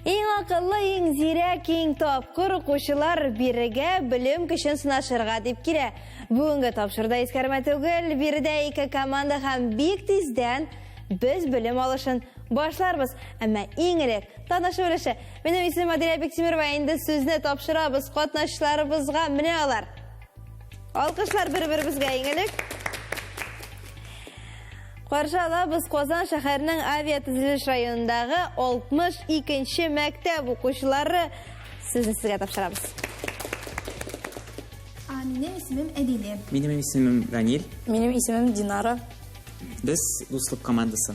Иң акыллы, иң зирәк, иң тапкыр укучылар бирегә белем көчен сынашырга дип килә. Бүгенге тапшырда искәрмә түгел, биредә ике команда һәм бик тиздән без белем алышын башларбыз. Әмма иң элек танышу өлеше. Минем исемем Адилә Бектимирова, инде сүзне тапшырабыз катнашчыларыбызга. Менә алар. Алкышлар бер-беребезгә иң элек. Каршы алабыз Казан шәһәренең авиатөзелеш районындагы 62 нче мәктәп укучылары. Сезне сезгә тапшырабыз. А, Минем исемем Әдиле. Минем исемем Данил. Минем исемем Динара. Без дуслык командасы.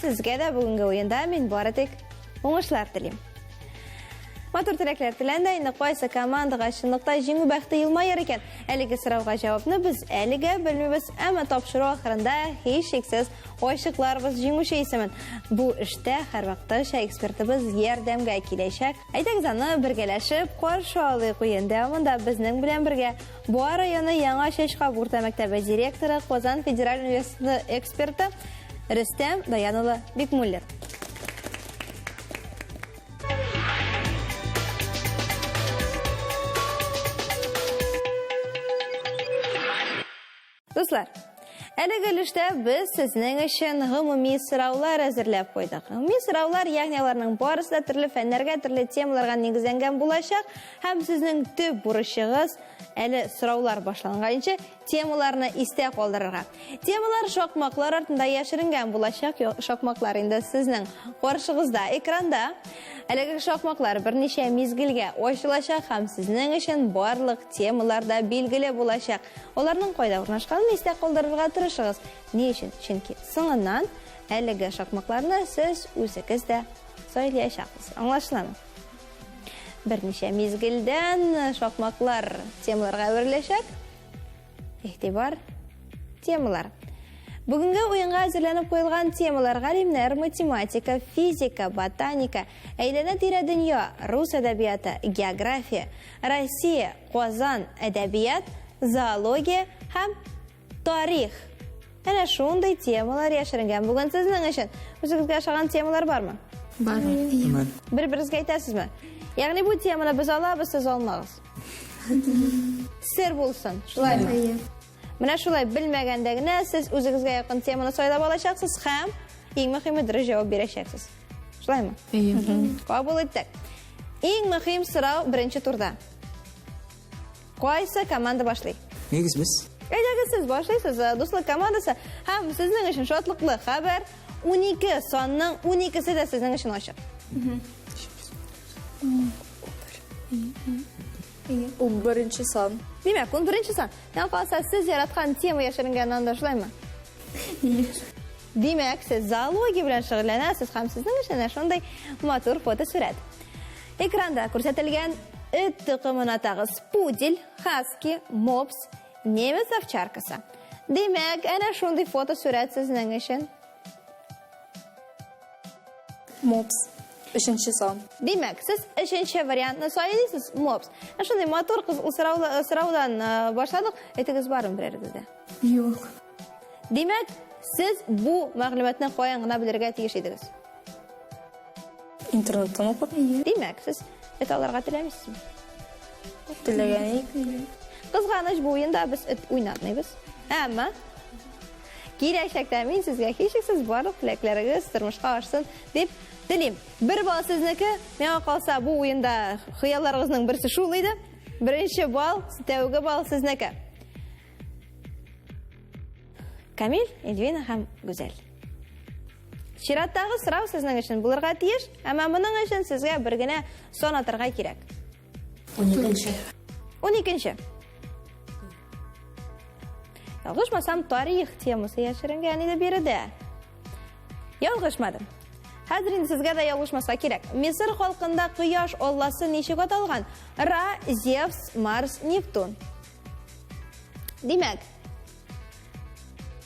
Сезгә дә бүгенге уенда мин бары тик уңышлар телим. Матур теләкләр теләндә инде кайсы командаға чынлыкта җиңү бәхте елмаер икән? Әлеге сорауга җавапны без әлегә белмибез, әмма тапшыру ахырында һичшиксез ачыкларбыз җиңүче исемен. Бу эштә һәрвакыттагыча экспертыбыз ярдәмгә киләчәк. Әйдәгез аны бергәләшеп каршы алыйк. Уен дәвамында безнең белән бергә Буа районы Яңа Чәчкаб урта мәктәбе директоры, Казан федераль университеты эксперты Рөстәм Даян улы Бикмуллин. Дуслар, әлеге өлештә без сезнең өчен гомуми сораулар әзерләп куйдык. Гомуми сораулар, ягъни аларның барысы да төрле фәннәргә, төрле темаларга нигезләнгән булачак һәм сезнең төп бурычыгыз әле сораулар башланганчы темаларны истә калдырырга. Темалар шакмаклар артында яшеренгән булачак. Шакмаклар инде сезнең каршыгызда, экранда. Әлеге шакмаклар берничә мизгелгә ачылачак һәм сезнең өчен барлык темалар да билгеле булачак. Аларның кайда урнашканын истә калдырырга тырышыгыз. Ни өчен? Чөнки соңыннан әлеге шакмакларны сез үзегез дә сайлаячаксыз. Аңлашыламы? Берничә мизгелдән шакмаклар темаларга әвереләчәк. Игътибар, темалар. Бүгенге уенга әзерләнеп куелган темалар галимнәр, математика, физика, ботаника, әйләнә-тирә дөнья, рус әдәбияты, география, Россия, Казан әдәбият, зоология һәм тарих. Әнә шундый темалар яшеренгән бүген сезнең өчен. Үзегезгә ошаган темалар бармы? Бар. Бер-берегезгә әйтәсезме? Ягъни бу теманы без алабыз, сез алмагыз. Сер булсын, шулаймы? Менә шулай белмәгәндә генә сез үзегезгә якын теманы сайлап алачаксыз һәм иң мөһиме дөрес җавап бирәчәксез. Шулаймы? Әйе. Кабул иттек. Иң мөһим сорау беренче турда. Кайсы команда башлый? Нигез без. Әйдәгез сез башлыйсыз, э, дуслык командасы һәм сезнең өчен шатлыклы хәбәр 12 санның 12-се дә сезнең өчен ачык. Унберенче сан. Димәк, унберенче сан. Миңа калса, сез яраткан тема яшеренгән анда, шулаймы? Димәк, сез зоология белән шөгыльләнәсез һәм сезнең өчен әнә шундый матур фотосурәт. Экранда күрсәтелгән эт токымын атагыз. Пудель, хаски, мопс, немец овчаркасы. Димәк, әнә шундый фотосурәт сезнең өчен. Мопс. Өченче сан. Димәк, сез өченче вариантны сайлыйсыз, мопс. Ә шундый матур кыз сораула- сораудан э, башладык. Әйтегез барын берәрегез дә. Юк. Димәк, сез бу мәгълүматны каян гына белергә тиеш идегез? Интернеттан укып Димәк, сез эт алырга теләмисезме? теләгән идек. Кызганыч бу уенда без эт уйнатмыйбыз. Әмма Киләчәктә мин сезгә һичшиксез барлык теләкләрегез тормышка ашсын дип телим. Бер балл сезнеке. Миңа калса, бу уенда хыялларыгызның берсе шул иде. Беренче балл, тәүге балл сезнеке. Камил, Эльвина һәм Гүзәл. Чираттагы сорау сезнең өчен булырга тиеш, әмма моның өчен сезгә бер генә сон атырга кирәк. 12-нче. 12-нче. Ялгышмасам, тарих темасы яшеренгән иде биредә. Ялгышмадым. Хәзер инде сезгә дә ялгышмаска кирәк. Мисыр халкында кояш алласы ничек аталган? Ра, Зевс, Марс, Нептун. Димәк,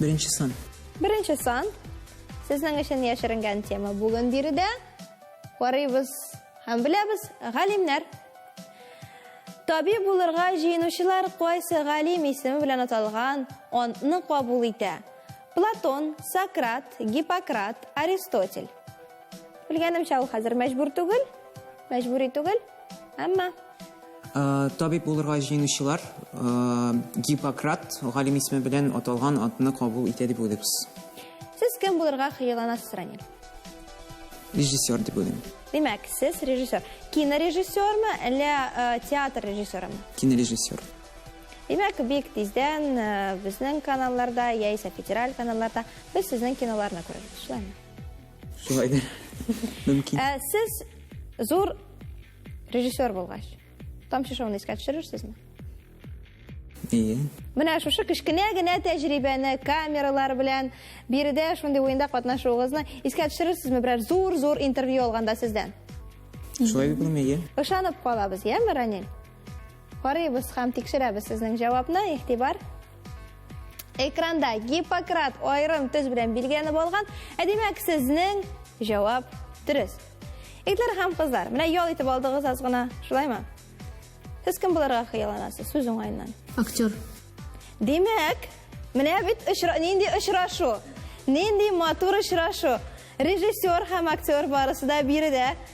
Беренче сан. Беренче сан. Сезнең өчен яшеренгән тема бүген биредә. Карыйбыз һәм беләбез, галимнәр. Табиб булырга җыенучылар кайсы галим исеме белән аталган антны кабул итә? Платон, Сократ, Гиппократ, Аристотель. Белгәнемчә, ул хәзер мәҗбүр түгел, мәҗбүри түгел, әмма Э, табиб булырга җыенучылар э, Гиппократ галим исеме белән аталган атны кабул итә дип уйлыйбыз. Сез кем булырга хыялланасыз, Ранил? Режиссер дип уйлыйм. Димәк, сез режиссер. Кинорежиссермы, әллә э, театр режиссерымы? Кинорежиссер. Димәк, бик тиздән безнең каналларда яисә федераль каналларда без сезнең киноларны күрербез, шулаймы? Шулай да. Мөмкин. Ә сез зур режиссер булгач, тамчы шоуны искә төшерерсезме? Ие. Менә шушы кечкенә генә тәҗрибәне камералар белән биредә шундый уенда катнашуыгызны искә төшерерсезме берәр зур-зур интервью алганда сездән? Шулай дип булмый, ие. Ышанып калабыз, яме, Ранил? Карыйбыз һәм тикшерәбез сезнең җавапны, игътибар. Экранда Гиппократ аерым төз белән билгеләнеп алган, ә димәк сезнең җавап дөрес. Итләр һәм кызлар, менә ял итеп алдыгыз аз гына, шулаймы? Сез кем булырга хыялланасыз сүз уңаеннан? Актер. Димәк, менә бит очра... нинди очрашу, нинди матур очрашу. Режиссер һәм актер барысы да биредә.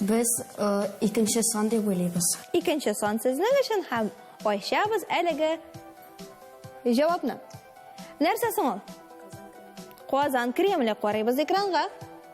Без э, икенче сан дип уйлыйбыз. Икенче сан сезнең өчен һәм ачабыз әлеге җавапны. Нәрсә соң ул? Казан Кремле карыйбыз экранга.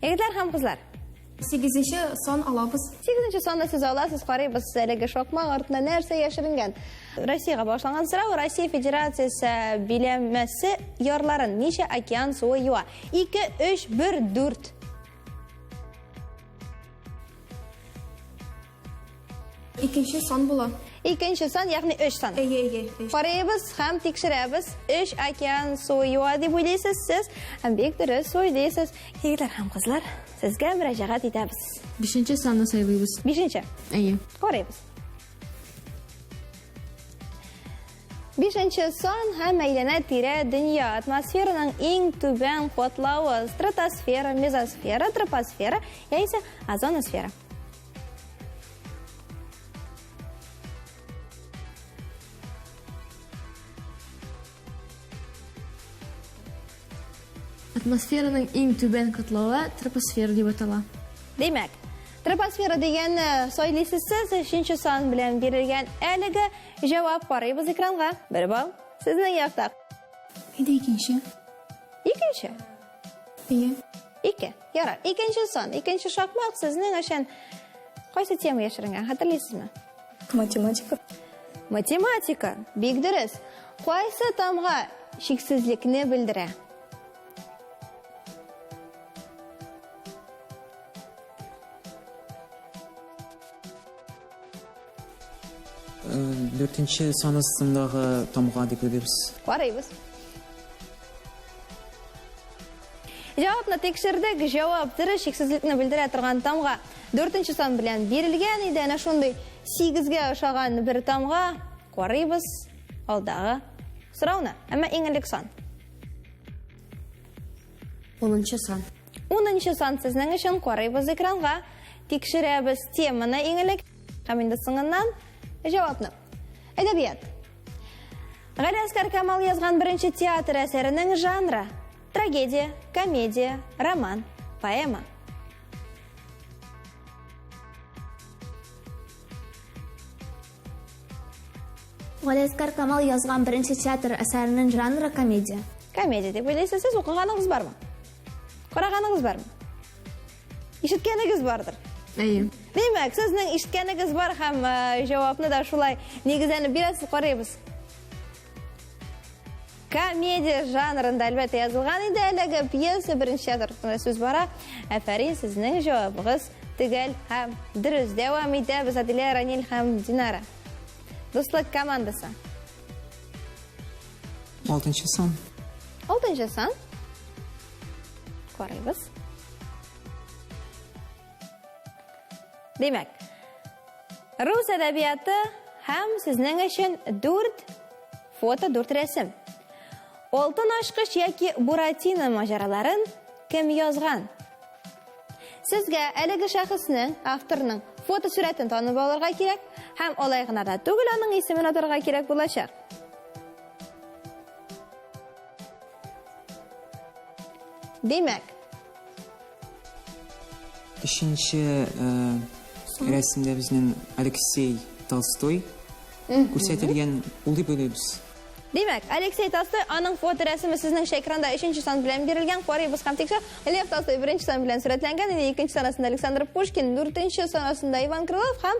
Егетләр һәм кызлар! Сигезенче сан алабыз. Сигезенче санны сез аласыз, карыйбыз әлеге шакмак артына нәрсә яшеренгән. Россиягә башланган сорау, Россия Федерациясе биләмәсе ярларын ничә океан суы юа? 2, 3, 1, 4. Икенче сан була. Икенче сан, ягъни 3 сан. Әйе, әйе. өч. Карыйбыз һәм тикшерәбез. 3 океан суы юа дип уйлыйсыз сез. Һәм бик дөрес уйлыйсыз. Егетләр һәм кызлар, сезгә мөрәҗәгать итәбез. Бишенче санны сайлыйбыз. Бишенче. Әйе. Карыйбыз. Бишенче сан һәм әйләнә тирә дөнья атмосфераның иң түбән катлавы стратосфера, мезосфера, тропосфера яисә озоносфера. Атмосфераның иң түбән катлавы тропосфера дип атала. Димәк, тропосфера дигән э, сойлисез сез өченче сан белән бирелгән әлеге җавап карыйбыз экранга. Бер балл сезнең якта. Әйдә икенче. Икенче. Ике. Ике. Ярар. Икенче сон. Икенче шакмак сезнең өчен кайсы тема яшеренгән? Хәтерлисезме? Математика. Математика. Бик дөрес. Кайсы тамга шиксезлекне белдерә? Дүртенче сан астындагы тамга дип уйлыйбыз. Карыйбыз. Җавапны тикшердек. Җавап дөрес шиксезлекне белдерә торган тамга. Дүртенче сан белән бирелгән иде. Әнә шундый сигезгә ошаган бер тамга. Карыйбыз алдагы сорауны. Әмма иң элек сан. Унынчы сан. Унынчы сан сезнең өчен карыйбыз экранга. Тикшерәбез теманы иң элек һәм инде соңыннан җавапны. Әдәбият. Галиәсгар Камал язган беренче театр әсәренең жанры трагедия, комедия, роман, поэма. Галиәскар Камал язган беренче театр әсәренең жанры комедия. Комедия дип уйлыйсыз, сез укыганыгыз бармы? Караганыгыз бармы? Ишеткәнегез бардыр. Әйе. Димәк, сезнең ишеткәнегез бар һәм э, җавапны да шулай нигезләнеп бирәсез, карыйбыз. Комедия жанрында әлбәттә язылган инде әлеге пьеса беренче язар турында сүз бара. Әфәрин сезнең җавабыгыз төгәл һәм дөрес. Дәвам итәбез Адилә Ранил һәм Динара. Дуслык командасы. Алтынчы сан. Алтынчы сан. Карыйбыз. Димәк, рус әдәбияты һәм сезнең өчен дүрт фото, дүрт рәсем. Алтын ашкыш яки Буратино маҗараларын кем язган? Сезгә әлеге шәхеснең, авторның фото сурәтен танып алырга кирәк һәм алай гына да түгел аның исемен атарга кирәк булачак. Димәк, Өченче рәсемдә безнең Алексей Толстой күрсәтелгән улый белебез. Димәк, Алексей Толстой, аның фоторәсеме сезнең экранда өченче сан белән бирелгән, карыйбыз һәм тикшер. Лев Толстой беренче сан белән сурәтләнгән иде, икенче санасында Александр Пушкин, дүртенче санасында Иван Крылов һәм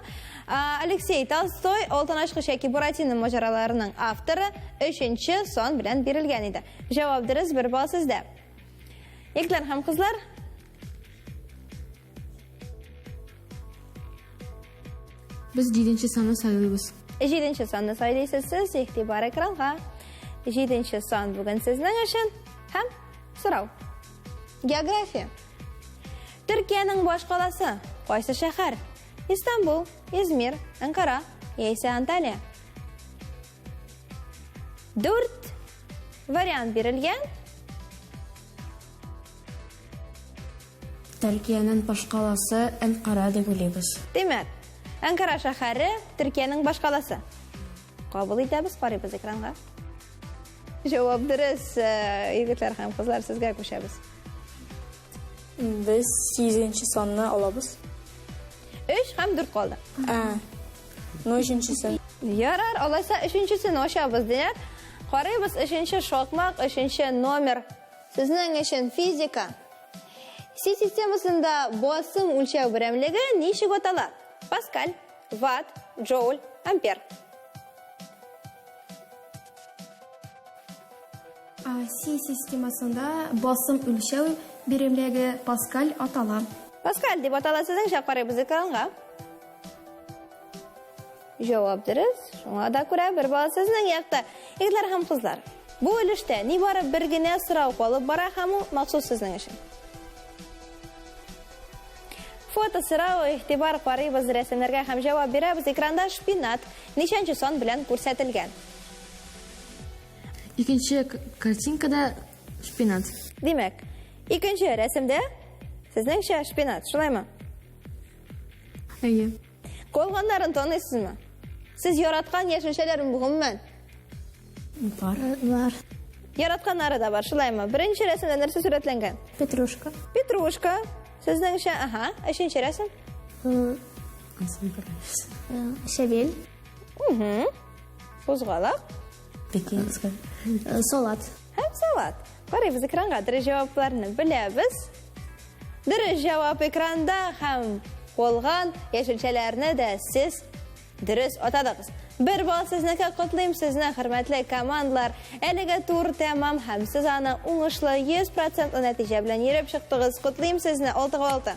Алексей Толстой, Алтын ачкыч яки Буратино маҗараларының авторы, өченче сан белән бирелгән иде. Җавап дөрес, бер балл сездә. Егетләр һәм кызлар, Без җиденче санны сайлыйбыз. Җиденче санны сайлыйсыз сез, игътибар экранга. Җиденче сан бүген сезнең өчен һәм сорау. География. Төркиянең баш каласы кайсы шәһәр? Истанбул, Измир, Анкара яисә Анталия? Дүрт вариант бирелгән. Төркиянең башкаласы Әнкара дип уйлыйбыз. Димәк, Әнкара шәһәре Төркиянең башкаласы. Кабул итәбез, карыйбыз экранга. Җавап дөрес, э, егетләр һәм кызлар, сезгә күчәбез. Без 8 санны алабыз. 3 һәм 4 калды. Ә, Ну, өченчесен. Ярар, алайса өченчесен ачабыз, диләр. Карыйбыз, өченче шакмак, өченче номер. Сезнең өчен физика. Си системасында басым үлчәү берәмлеге ничек атала? Паскаль, ватт, джоуль, ампер. Си системасында басым үлчәү берәмлеге паскаль атала. Паскаль дип атала сезнең карыйбыз экранга. Җавап дөрес, шуңа да күрә бер бала сезнең якта. Егетләр һәм кызлар, бу өлештә нибары бер генә сорау калып бара һәм ул махсус сезнең өчен. Фото сорау, игътибар карыйбыз рәсемнәргә һәм җавап бирәбез. Экранда шпинат ничәнче сан белән күрсәтелгән? Икенче картинкада шпинат. Димәк, икенче рәсемдә сезнеңчә шпинат, шулаймы? Әйе. Калганнарын таныйсызмы? Сез яраткан яшелчәләрен гомумән? Барлар. Яратканнары да бар, шулаймы? Беренче рәсемдә нәрсә сурәтләнгән? Петрушка. Петрушка. Сезнеңчә, ага, өченче рәсем. Шәбел. Угу. Кузгалак. Пекинская. Салат. Һәм сават. Карыйбыз экранга дөрес җавапларны беләбез. Дөрес җавап экранда һәм калган яшелчәләрне дә сез дөрес атадыгыз. Бер бал сезнеке котлыйм сезне, хөрмәтле командлар. Әлеге тур тәмам һәм сез аны уңышлы 100% нәтиҗә белән йөреп чыктыгыз. Котлыйм сезне 6-6.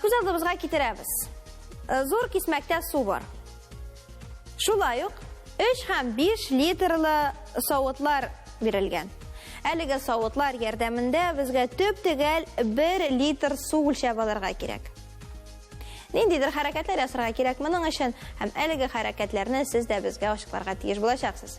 Сүз алдыбызга китерәбез. Э, зур кисмәктә су бар. Шулай ук 3 һәм 5 литрлы савытлар бирелгән. Әлеге савытлар ярдәмендә безгә төп төгәл 1 литр су үлчәп алырга кирәк. Ниндидер хәрәкәтләр ясарга кирәк моның өчен һәм әлеге хәрәкәтләрне сез дә безгә ачыкларга тиеш булачаксыз.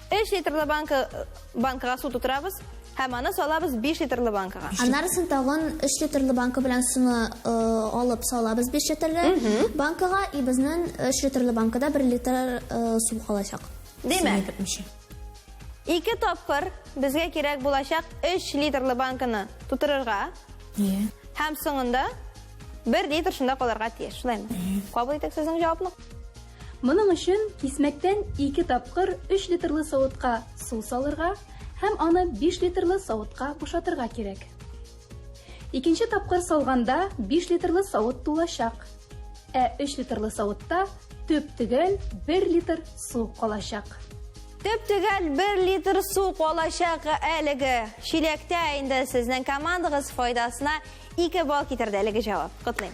3 литрлы банка банкага су тутырабыз һәм аны салабыз 5 литрлы банкага. Аннарысын тагын 3 литрлы банка белән суны э, алып салабыз 5 литрлы банкага и безнең 3 литрлы банкада 1 литр э, су калачак. Димәк, ике тапкыр безгә кирәк булачак 3 литрлы банканы тутырырга. Иә. Һәм соңында 1 литр шунда калырга тиеш, шулаймы? Кабул итәк сезнең җавапны. Моның өчен кисмәктән ике тапкыр 3 литрлы савытка су салырга һәм аны 5 литрлы савытка бушатырга кирәк. Икенче тапкыр салганда 5 литрлы савыт тулачак, ә 3 литрлы савытта төп-төгәл 1 литр су калачак. Төп-төгәл 1 литр су калачак әлеге чиләктә инде сезнең командагыз файдасына 2 балл китерде әлеге җавап. Котлыйм.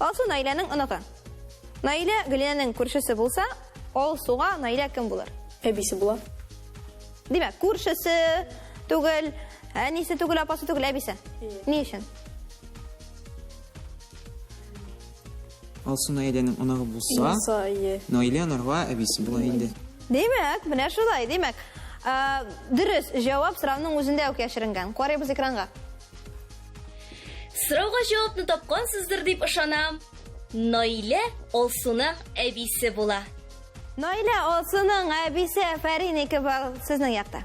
Алсу Наиләнең оныгы. Наилә Гөлинәнең күршесе булса, Алсуга Наилә кем булыр? Әбисе була. Димәк, күршесе түгел, әнисе түгел, апасы түгел, әбисе. Ни өчен? Алсу Наиләнең оныгы булса, Булса, ие. Наилә анарга әбисе була инде. Димәк, менә шулай, димәк. Ә, Дөрес, җавап сорауның үзендә үк яшеренгән. Карыйбыз экранга. Сорауга җавапны тапкансыздыр дип ышанам. Наилә Алсуның әбисе була. Наилә Алсуның әбисе Фәринеке бар сезнең якта.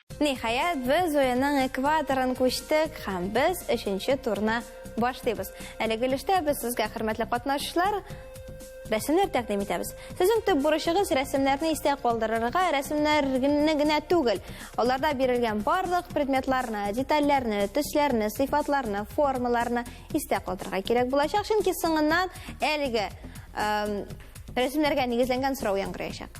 Ниһаять, без уенның экваторын күчтек һәм без өченче турны башлыйбыз. Әлеге өлештә без сезгә, хөрмәтле катнашучылар, рәсемнәр тәкъдим итәбез. Сезнең төп бурычыгыз рәсемнәрне истә калдырырга, рәсемнәрне генә түгел, аларда бирелгән барлык предметларны, детальләрне, төсләрне, сыйфатларны, формаларны истә калдырырга кирәк булачак, чөнки соңыннан әлеге рәсемнәргә нигезләнгән сорау яңгыраячак.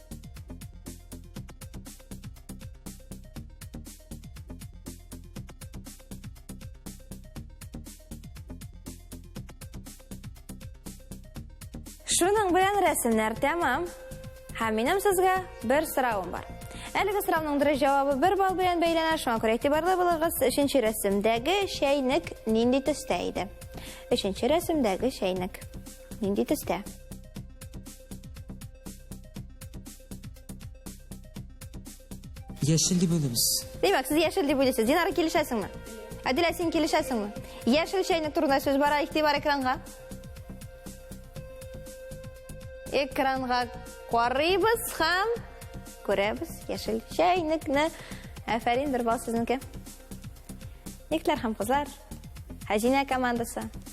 Шуның белән рәсемнәр тәмам. Һәм минем сезгә бер сорауым бар. Әлеге сорауның дөрес җавабы бер балл белән бәйләнә, шуңа күрә игътибарлы булыгыз. Өченче рәсемдәге чәйнек нинди төстә иде? Өченче рәсемдәге чәйнек нинди төстә? Яшел дип белеміз. Демәк, сез яшел дип белесез. Динара килешәсеңме? Әдилә, син килешәсеңме? Яшел чәйнек турында сүз бара, игътибар экранга. Экранга карыйбыз һәм күрәбез яшел чәйнекне. Әфәрин, бер бал сезнеке. Никләр һәм кызлар, Хәзинә командасы.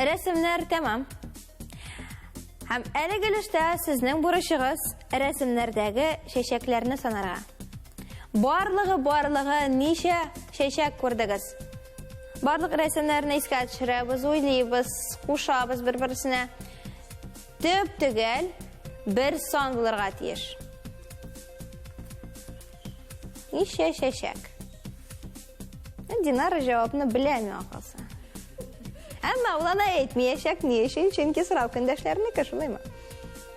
Рәсемнәр тәмам. Һәм әлеге өлештә сезнең бурычыгыз рәсемнәрдәге чәчәкләрне санарга. Барлыгы барлыгы ничә чәчәк күрдегез? Барлык рәсемнәрне искә төшерәбез, уйлыйбыз, кушабыз бер-берсенә. Төп төгәл бер сан булырга тиеш. Ничә чәчәк? Динара җавапны беләме акылса. Әмма ул ана әйтмиячәк ни өчен, чөнки сорау көндәшләренеке шулаймы?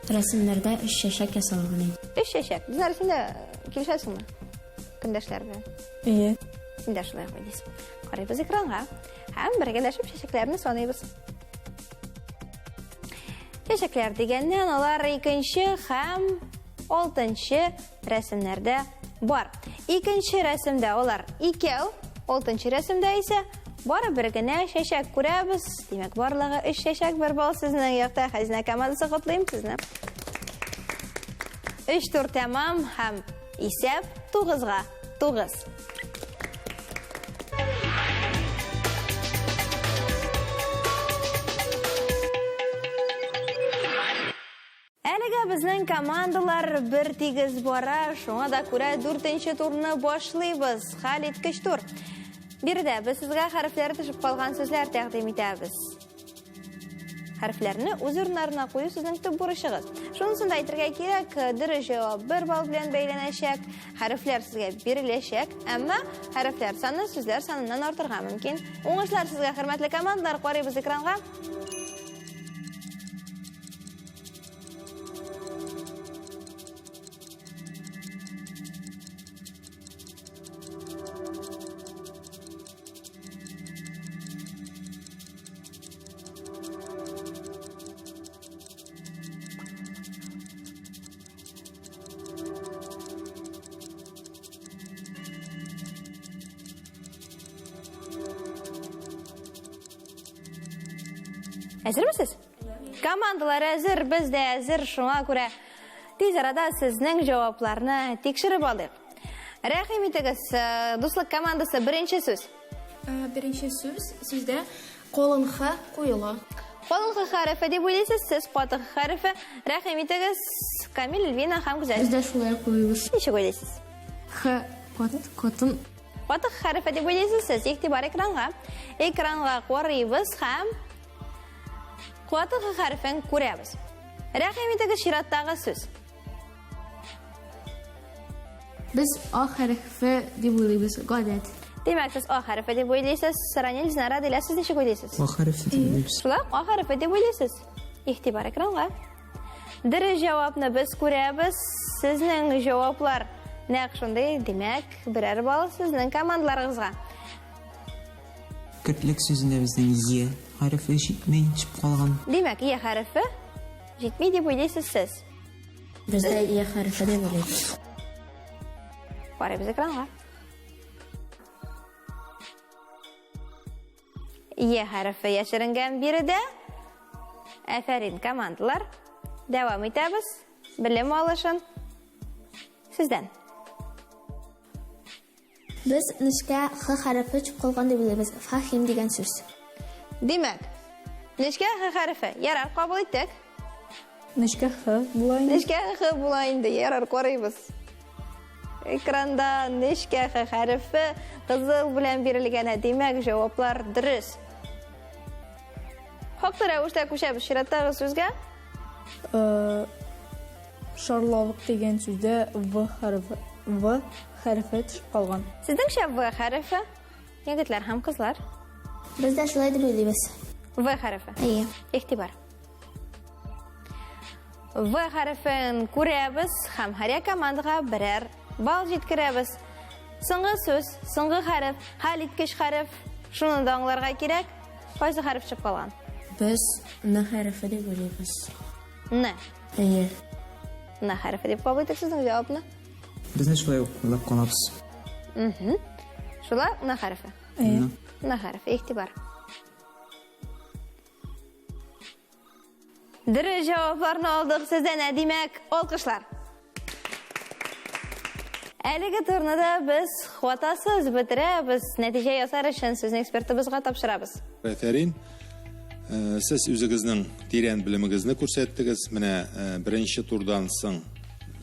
Рәсемнәрдә өч чәчәк ясалган. Өч чәчәк. Динара син дә килешәсеңме? Көндәшләр белән. Әйе. Син дә шулай куй дисең. Карыйбыз экранга. Һәм бергәләшеп чәчәкләрне саныйбыз. Чәчәкләр дигәннән алар икенче һәм алтынчы рәсемнәрдә бар. Икенче рәсемдә алар икәү, алтынчы рәсемдә исә бары бер генә чәчәк күрәбез. Димәк, барлыгы өч чәчәк бер балл сезнең якта. Хәзинә командасы котлыйм сезне. Өч тур тәмам һәм исәп тугызга. Тугыз. Әлегә безнең командалар бер тигез бара, шуңа да күрә дүртенче турны башлыйбыз. Хәл иткеч тур. Биредә без сезгә хәрефләре төшеп калган сүзләр тәкъдим итәбез. Хәрефләрне үз урыннарына кую сезнең төп бурычыгыз. Шунысын да әйтергә кирәк, дөрес җавап 1 балл белән бәйләнәчәк. Хәрефләр сезгә биреләчәк, әмма хәрефләр саны сүзләр саныннан артырга мөмкин. Уңышлар сезгә, хөрмәтле командалар, карыйбыз экранга. Әзермесез? Командалар әзер, без дә әзер, шуңа күрә тиз арада сезнең җавапларны тикшереп алдык. Рәхим итегез, э, дуслык командасы беренче сүз. Э, беренче сүз сүздә колын х куела. Колын х хәрефе дип уйлыйсыз, сез каты х хәрефе. Рәхим итегез, Камил, Эльвина һәм Гүзәл. Бездә шулай куелыш. Ничек уйлыйсыз? Х кат катын. Каты х хәрефе дип уйлыйсыз, сез игътибар экранга. Экранга карыйбыз һәм каты х хәрефен күрәбез. Рәхим итегез, чираттагы сүз. Без А хәрефе дип уйлыйбыз, гадәт. Димәк, сез А хәрефе дип уйлыйсыз. Сранил Динара дилә сез ничек уйлыйсыз? А хәрефе дип уйлыйбыз. Шулай ук А хәрефе дип уйлыйсыз. Игътибар экранга. Дөрес җавапны без күрәбез. Сезнең җаваплар нәкъ шундый. Димәк, берәр балл сезнең командаларыгызга. Кертлек сүзендә безнең Е хәрефе җитми, чип калган. Димәк, Е хәрефе җитми дип уйлыйсыз сез. Бездә я хәрефе дип уйлыйм. Карыйбыз экранга. Е хәрефе яшеренгән биредә. Әфәрин, командалар. Дәвам итәбез. Белем алышын. Сездән. Без нечкә х хәрефе чукылган дип уйлыйбыз, фахим дигән сүз. Димәк, нечкә х хәрефе, ярар, кабул иттек. Нечкә х була инде. Нечкә х була инде, ярар, карыйбыз. Экранда нечкә х хәрефе кызыл белән бирелгән, ә димәк, җаваплар дөрес. Хаклы рәвештә күчәбез чираттагы сүзгә. Э, шарлавык дигән сүздә в хәрефе в хәрефе төшеп калган. Сезнеңчә в хәрефе? Егетләр һәм кызлар. Без дә шулай дип уйлыйбыз. В хәрефе. Әйе. Игътибар. В хәрефен күрәбез һәм һәр командага берәр Бал җиткерәбез. Соңгы сүз, соңгы хәреф, хәл иткеч хәреф. Шуны да аңларга кирәк. Кайсы хәреф чыгып калган? Без н хәрефе дип уйлыйбыз. Н. Әйе. Н хәрефе дип кабул итик сезнең җавапны. Безне шулай ук уйлап калабыз. Мхм. Шулай н хәрефе. Әйе. Н хәрефе, игътибар. Дөрес җавапларны алдык сездән, ә димәк, алкышлар. Әлеге турны да без хватасыз бетерәбез. Нәтиҗә ясар өчен сезне экспертыбызга тапшырабыз. Афәрин. Э, сез үзегезнең тирән белемегезне күрсәттегез. Менә э, беренче турдан соң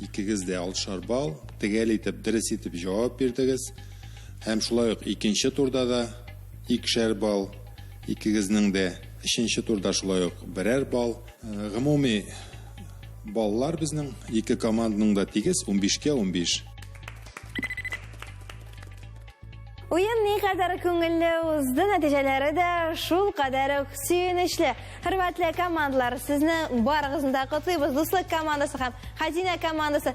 икегез дә алшар балл, тегәл итеп, дөрес итеп җавап бирдегез. Һәм шулай ук икенче турда да Икешәр балл, икегезнең дә өченче турда шулай ук берәр балл. Гомуми баллар безнең ике команданың да тигез, унбишкә унбиш. Уен никадәр күңелле узды, нәтиҗәләре дә шулкадәр үк сөенечле. Хөрмәтле командалар, сезне барыгызны да котлыйбыз, Дуслык командасы һәм Хәзинә командасы!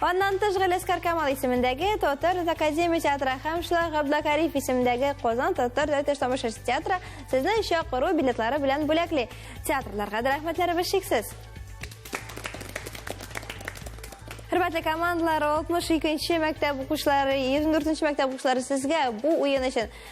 Аннан тыш Галәскар Камал исемендәге Татар академия театры һәм шулай Габдакариф исемендәге Казан татар дәүләт тамашасы театры сезне чакыру билетлары белән бүләкли. Театрларга да рәхмәтләребез шиксез. Хөрмәтле командалар, 62 нче мәктәп укучылары, 24 нче мәктәп укучылары сезгә бу уен өчен